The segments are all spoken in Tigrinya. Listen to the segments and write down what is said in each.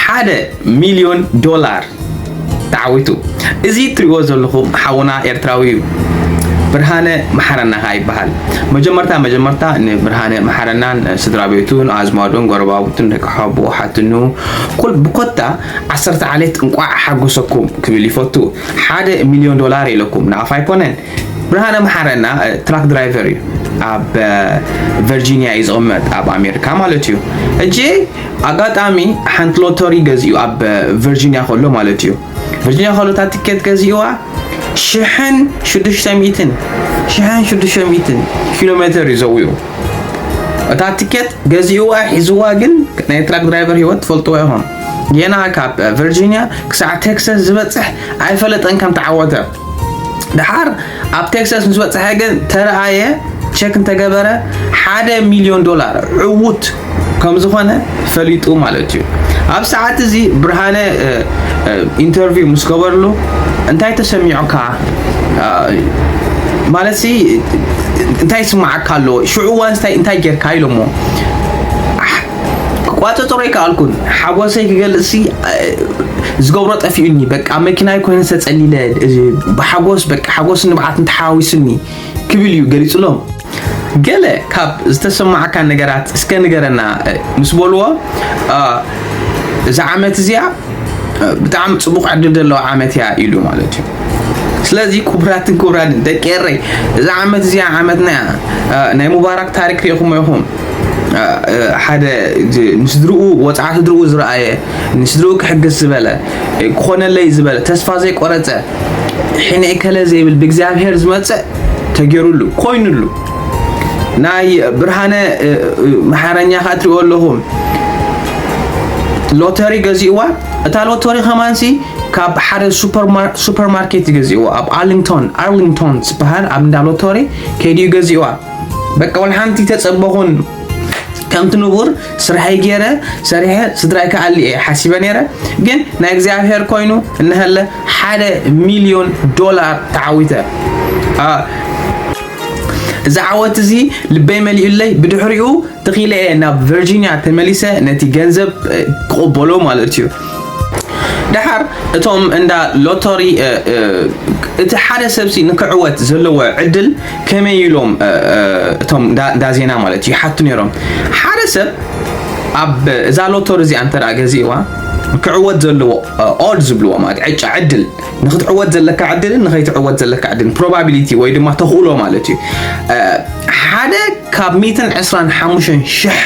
ሓደ ሚልዮን ዶላር ተዓዊቱ እዚ እትሪእዎ ዘለኹም ሓውና ኤርትራዊ እዩ ብርሃነ መሓረና ከዓ ይበሃል መጀመርታ መጀመርታ ንብርሃነ መሓረናን ስድራ ቤቱን ኣዝማዱን ጎረባብቱን ደቂ ሓቦ ሓትኑ ኩል ብኮታ ዓሰርተ ዓሌት እንቋዕ ሓጎሰኩም ክብል ይፈቱ ሓደ ሚልዮን ዶላር ኢለኩም ንኣፍ ኣይኮነን ብርሃነ መሓረና ትራክ ድራይቨር እዩ ኣብ ቨርጂኒያ እዩ ዝቕመጥ ኣብ ኣሜሪካ ማለት እዩ ሕጂ ኣጋጣሚ ሓንቲ ሎተሪ ገዚኡ ኣብ ቨርጂኒያ ከሎ ማለት እዩ ቨርጂኒያ ከሎ እታ ትኬት ገዚእዋ ሽሕን ሽዱሽተ ሚእትን ሽሕን ሽዱሽተ ሚእትን ኪሎ ሜትር እዩ ዘውዩ እታ ትኬት ገዚእዋ ሒዝዋ ግን ናይ ትራክ ድራይቨር ሂወት ትፈልጥዎ ኢኹም ጌና ካብ ቨርጂኒያ ክሳዕ ቴክሳስ ዝበፅሕ ኣይፈለጠን ከም ተዓወተ ድሓር ኣብ ቴክሳስ ምስ በፅሐ ግን ተረኣየ ቸክ እንተገበረ ሓደ ሚሊዮን ዶላር ዕውት ከም ዝኾነ ፈሊጡ ማለት እዩ ኣብ ሰዓት እዚ ብርሃነ ኢንተርቪው ምስ ገበርሉ እንታይ ተሰሚዑካ ማለት ሲ እንታይ ስማዓካ ኣለዎ ሽዑ ዋንስታይ እንታይ ጌርካ ኢሎሞ ክቋጸጸሮ ኣይከኣልኩን ሓጎሰይ ክገልጽሲ ዝገብሮ ጠፊኡኒ በቃ ኣብ መኪናይ ኮይኑ ዝተጸሊለ ብሓጎስ በቃ ሓጎስን ንብዓትን ተሓዋዊሱኒ ክብል እዩ ገሊጹሎም ገለ ካብ ዝተሰማዓካ ነገራት እስከ ንገረና ምስ በልዎ እዛ ዓመት እዚኣ ብጣዕሚ ጽቡቕ ዕድል ዘለዎ ዓመት እያ ኢሉ ማለት እዩ ስለዚ ክቡራትን ክቡራንን ደቂ ኤረይ እዛ ዓመት እዚኣ ዓመትና እያ ናይ ሙባራክ ታሪክ ሪኢኹሞ ኢኹም ሓደ ንስድርኡ ወፅዓ ስድርኡ ዝረኣየ ንስድርኡ ክሕግዝ ዝበለ ክኾነለይ ዝበለ ተስፋ ዘይቆረፀ ሕነ ከለ ዘይብል ብእግዚኣብሔር ዝመፅእ ተገይሩሉ ኮይኑሉ ናይ ብርሃነ መሓረኛ ከዓ ትሪኦ ኣለኹም ሎተሪ ገዚእዋ እታ ሎተሪ ከማንሲ ካብ ሓደ ሱፐርማርኬት ገዚእዋ ኣብ ኣርሊንግቶን ኣርሊንግቶን ዝበሃል ኣብ እንዳ ሎተሪ ከይድዩ ገዚእዋ በቃ ወላ ሓንቲ ተጸበኹን ከምቲ ንቡር ስራሐይ ገይረ ሰሪሐ ስድራይ ክኣሊ እየ ሓሲበ ነይረ ግን ናይ እግዚኣብሄር ኮይኑ እናሃለ ሓደ ሚልዮን ዶላር ተዓዊተ እዚ ዓወት እዚ ልበይ መሊኡለይ ብድሕሪኡ ተኺለ እየ ናብ ቨርጂኒያ ተመሊሰ ነቲ ገንዘብ ክቕበሎ ማለት እዩ ድሓር እቶም እንዳ ሎተሪ እቲ ሓደ ሰብሲ ንክዕወት ዘለዎ ዕድል ከመይ ኢሎም እቶም ዳዜና ማለት እዩ ሓቱ ነይሮም ሓደ ሰብ ኣብ እዛ ሎቶር እዚኣ እንተ ገዚእዋ ክዕወት ዘለዎ ኦድ ዝብልዎ ማለት ዕጫ ዕድል ንክትዕወት ዘለካ ዕድልን ንከይትዕወት ዘለካ ዕድልን ፕሮባቢሊቲ ወይ ድማ ተኽእሎ ማለት እዩ ሓደ ካብ 125 ሽሕ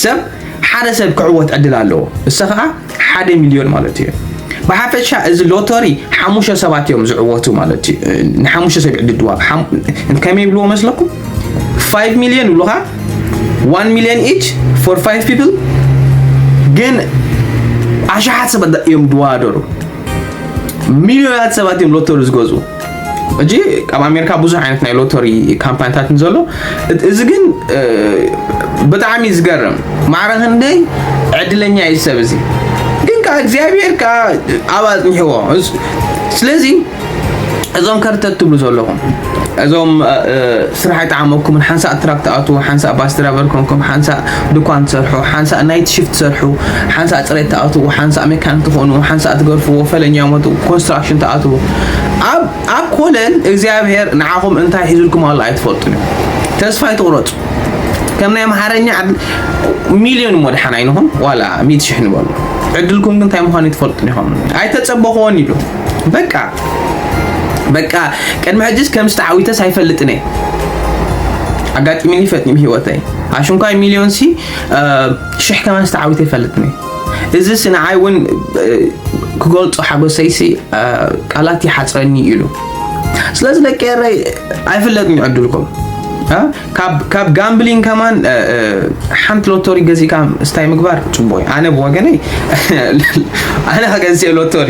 ሰብ ሓደ ሰብ ክዕወት ዕድል ኣለዎ እሰ ከዓ ሓደ ሚልዮን ማለት እዩ። ብሓፈሻ እዚ ሎተሪ ሓሙሽተ ሰባት እዮም ዝዕወቱ ማለት እዩ። ንሓሙሽተ ሰብ ዕድል ድዋብ ከመይ ይብልዎ መስለኩም? 5 ሚልዮን ይብሉኻ 1 ሚልዮን ኢች ፎር 5 ፒፕል ግን ኣሽሓት ሰባት እዮም ድዋደሩ ሚልዮናት ሰባት እዮም ሎተሪ ዝገዝኡ ሕጂ ኣብ ኣሜሪካ ብዙሕ ዓይነት ናይ ሎተሪ ካምፓኒታት ንዘሎ እዚ ግን ብጣዕሚ ዝገርም ማዕረ ክንደይ ዕድለኛ እዩ ሰብ እዚ ግን ከዓ እግዚኣብሔር ከዓ ኣብ ኣፅኒሕዎ ስለዚ እዞም ከርተት ትብሉ ዘለኹም እዞም ስራሕ ኣይጠዓመኩምን ሓንሳእ ትራክ ትኣትዉ ሓንሳእ ባስ ድራቨር ኮንኩም ሓንሳእ ድኳን ትሰርሑ ሓንሳእ ናይት ሽፍት ትሰርሑ ሓንሳእ ፅሬት ትኣትዉ ሓንሳእ ሜካኒክ ትኾኑ ሓንሳእ ትገርፍዎ ፈለኛ ሞት ኮንስትራክሽን ትኣትዉ ኣብ ኣብ ኮለን እግዚኣብሔር ንዓኹም እንታይ ሒዙልኩም ኣሎ ኣይትፈልጡን እዩ ተስፋ ኣይትቑረፁ ከም ናይ ኣምሓርኛ ሚልዮን እሞ ድሓን ኣይንኹን ዋላ ሚት ሽሕ ንበሉ ዕድልኩም ግን እንታይ ምዃኑ ኣይትፈልጡን ኢኹም ኣይተፀበኹዎን ኢሉ በቃ በቃ ቅድሚ ሕጅስ ከም ዝተዓዊተስ ኣይፈልጥን እየ ኣጋጢሚኒ ፈጥኒም ሂወተይ ኣሽንኳይ ሚልዮን ሲ ሽሕ ከማን ዝተዓዊተ ይፈልጥን እየ እዚስ ንዓይ እውን ክገልፆ ሓጎሰይሲ ቃላት ይሓፅረኒ እዩ ኢሉ ስለዚ ደቂ ኤረይ ኣይፍለጥን እዩ ዕድልኩም ካብ ጋምብሊን ከማን ሓንቲ ሎቶሪ ገዚእካ ስታይ ምግባር ፅቡቅ እዩ ኣነ ብወገነይ ኣነ ከገዝእ ሎቶሪ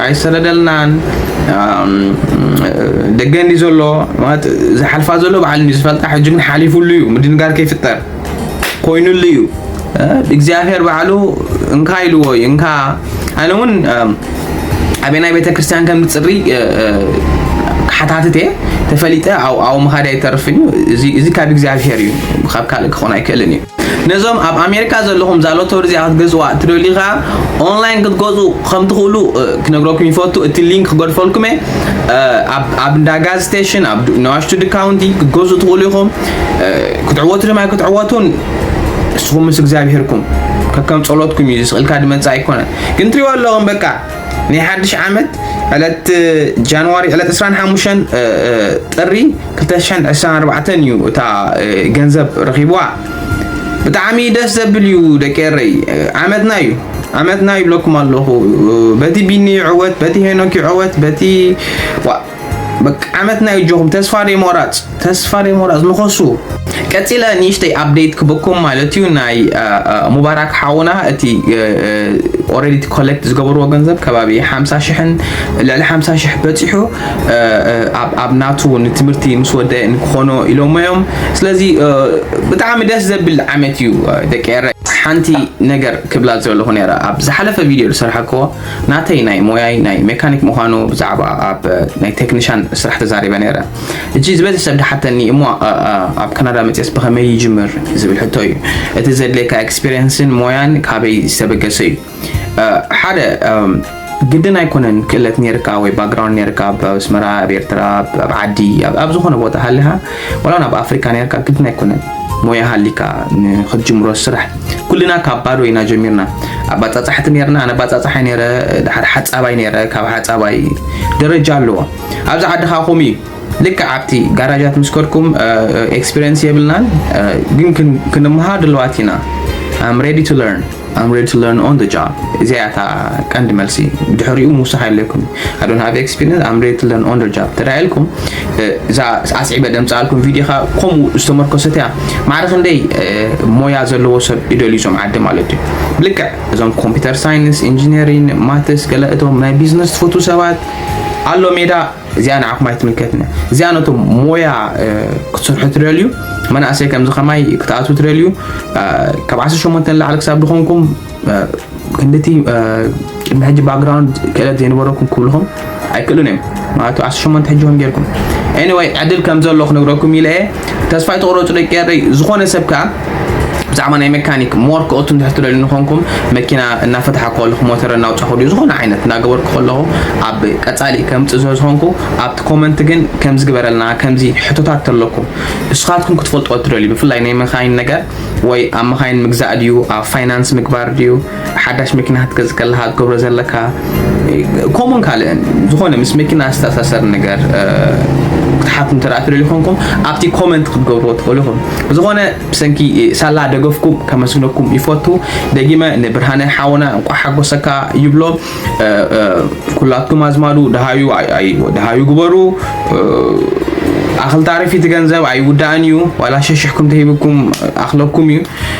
ኣይሰደደልናን ደገ እንዲ ዘሎ ማለት ዝሓልፋ ዘሎ ባዕሉ እንዲ ዝፈልጣ ሕጂ ግን ሓሊፉሉ እዩ ምድንጋር ከይፍጠር ኮይኑሉ እዩ እግዚኣብሔር ባዕሉ እንካ ኢልዎ እዩ እንካ ኣነ እውን ኣበናይ ቤተ ክርስቲያን ከም ዝፅሪ ክሓታትት እየ ተፈሊጠ ኣብኡ ምኻድ ኣይተርፍን እዩ እዚ ካብ እግዚኣብሔር እዩ ካብ ካልእ ክኾን ኣይክእልን እዩ ነዞም ኣብ ኣሜሪካ ዘለኹም እዛ ሎተሪ እዚኣ ክትገዝእዋ እትደልዩ ከዓ ኦንላይን ክትገዝኡ ከም ትኽእሉ እ፣ ክነግረኩም ይፈቱ እቲ ሊንክ ክገድፈልኩም እየ እ፣ ኣብ ኣብ እንዳ ጋዝ ስቴሽን ኣብ ድ- ነዋሽቱ ድካውንቲ ክትገዝኡ ትኽእሉ ኢኹም እ፣ ክትዕወቱ ድማ ክትዕወቱን ንስኹም ምስ እግዚኣብሄርኩም ከከም ጸሎትኩም እዩ ዝስእልካ ድመጻእ ኣይኮነን ግን ትሪእዎ ኣለኹም በቃ ናይ ሓድሽ ዓመት ዕለት ጃንዋሪ ዕለት 25 ጥሪ 224 እዩ እታ ገንዘብ ረኺብዋ ብጣዕሚ ደስ ዘብል እዩ ደቂ ኤረይ ዓመትና እዩ ዓመትና ይብለኩም ኣለኹ በቲ ቢኒ ይዕወት በቲ ሄኖክ ይዕወት በቲ በቃ ዓመትና እዩ ጆኹም ተስፋ ደይሞራፅ ተስፋ ደይሞራፅ ንኸሱ ቀፂለ ንእሽተይ ኣፕዴት ክበኩም ማለት እዩ ናይ ሙባራክ ሓውና እቲ ኦረዲ እቲ ኮሌክት ዝገበርዎ ገንዘብ ከባቢ ሓምሳ ሽሕን ልዕሊ ሓምሳ ሽሕ በፂሑ ኣብ ናቱ ንትምህርቲ ምስ ወደ ንክኾኖ ኢሎሞ እዮም ስለዚ ብጣዕሚ ደስ ዘብል ዓመት እዩ ደቂ ኤረ ሓንቲ ነገር ክብላ ዘለኹ ነራ ኣብ ዝሓለፈ ቪድዮ ዝሰርሓክዎ ናተይ ናይ ሞያይ ናይ ሜካኒክ ምዃኑ ብዛዕባ ኣብ ናይ ቴክኒሻን ስራሕ ተዛሪበ ነይረ እጂ ዝበዝሕ ሰብ ድሓተኒ እሞ ኣብ ካናዳ መፅስ ብኸመይ ይጅምር ዝብል ሕቶ እዩ እቲ ዘድልየካ ኤክስፔሪንስን ሞያን ካበይ ዝተበገሰ እዩ ሓደ ግድን ኣይኮነን ክእለት ነርካ ወይ ባክግራውንድ ነርካ ኣብ ኣስመራ ኣብ ኤርትራ ኣብ ዓዲ ኣብ ዝኾነ ቦታ ሃለኻ ዋላ ናብ ኣፍሪካ ነርካ ግድን ኣይኮነን ሞያ ሃሊካ ንክትጅምሮ ስራሕ ኩልና ካብ ባዶ ኢና ጀሚርና ኣባፃፃሕቲ ነርና ኣነ ባፃፃሓይ ነረ ድሓር ሓፃባይ ነረ ካብ ሓፃባይ ደረጃ ኣለዎ ኣብዚ ዓዲ ከዓ ከምኡ እዩ ልክዕ ኣብቲ ጋራጃት ምስ ከድኩም ኤክስፒሪንስ የብልናን ግን ክንመሃር ድለዋት ኢና ኣም ሬዲ ቱ ለርን I'm ready to learn on the job እዚኣ እያ እታ ቀንዲ መልሲ ድሕሪኡ ምውሳኽ የድልየኩም I don't have experience I'm ready to learn on the job ተዳ ኢልኩም እዛ ኣስዒበ ደምፅኣልኩም ቪድዮ ኸ ከምኡ ዝተመርኮሰት እያ ማዕረ ክንደይ ሞያ ዘለዎ ሰብ ይደልዩ እዞም ዓዲ ማለት እዩ ልክዕ እዞም ኮምፒውተር ሳይንስ ኢንጂነሪን ማትስ ገለ እቶም ናይ ቢዝነስ ትፈትዉ ሰባት ኣሎ ሜዳ እዚኣ ንዓኹም ኣይትምልከትነ እዚኣ ነቶም ሞያ ክትሰርሑ ትደልዩ መናእሰይ ከምዚ ከማይ ክትኣትዉ ትደልዩ ካብ 18 ንላዕሊ ክሳብ ዝኾንኩም ክንድቲ ቅድሚ ሕጂ ባክግራውንድ ክእለት ዘይነበረኩም ክብልኹም ኣይክእሉን እዮም ማለት 18 ሕጂ ከም ጌርኩም ኤኒወይ ዕድል ከም ዘሎ ክነግረኩም ኢለ እየ ተስፋ ኣይትቑረፁ ደቂ ኤረይ ዝኾነ ሰብ ከዓ ብዛዕባ ናይ መካኒክ ሞር ክኦቱ እንድሕር ትደልዩ ንኾንኩም መኪና እናፈታሓ ከለኹ ሞተር እናውፃኹ ድዩ ዝኾነ ዓይነት እናገበርኩ ከለኹ ኣብ ቀፃሊ ከምፅእ ስለ ዝኾንኩ ኣብቲ ኮመንት ግን ከምዚ ግበረልና ከምዚ ሕቶታት ተለኩም ንስኻትኩም ክትፈልጥዎ ትደልዩ ብፍላይ ናይ መካይን ነገር ወይ ኣብ መካይን ምግዛእ ድዩ ኣብ ፋይናንስ ምግባር ድዩ ሓዳሽ መኪና ክትገዝእ ከለካ ክትገብሮ ዘለካ ከምኡን ካልእን ዝኾነ ምስ መኪና ዝተኣሳሰር ነገር ክትሓቱ እንተ ትደልዩ ኮንኩም ኣብቲ ኮመንት ክትገብርዎ ትኽእሉ ኢኹም ብዝኾነ ብሰንኪ ሳላ ደገፍኩም ከመስግነኩም ይፈቱ ደጊመ ንብርሃነ ሓውና እንቋ ሓጎሰካ ይብሎ ኩላትኩም ኣዝማዱ ደሃዩ ደሃዩ ግበሩ ኣኽልታሪፊ እቲ ገንዘብ ኣይውዳእን እዩ ዋላ ሸሽሕኩም ተሂብኩም ኣኽለኩም እዩ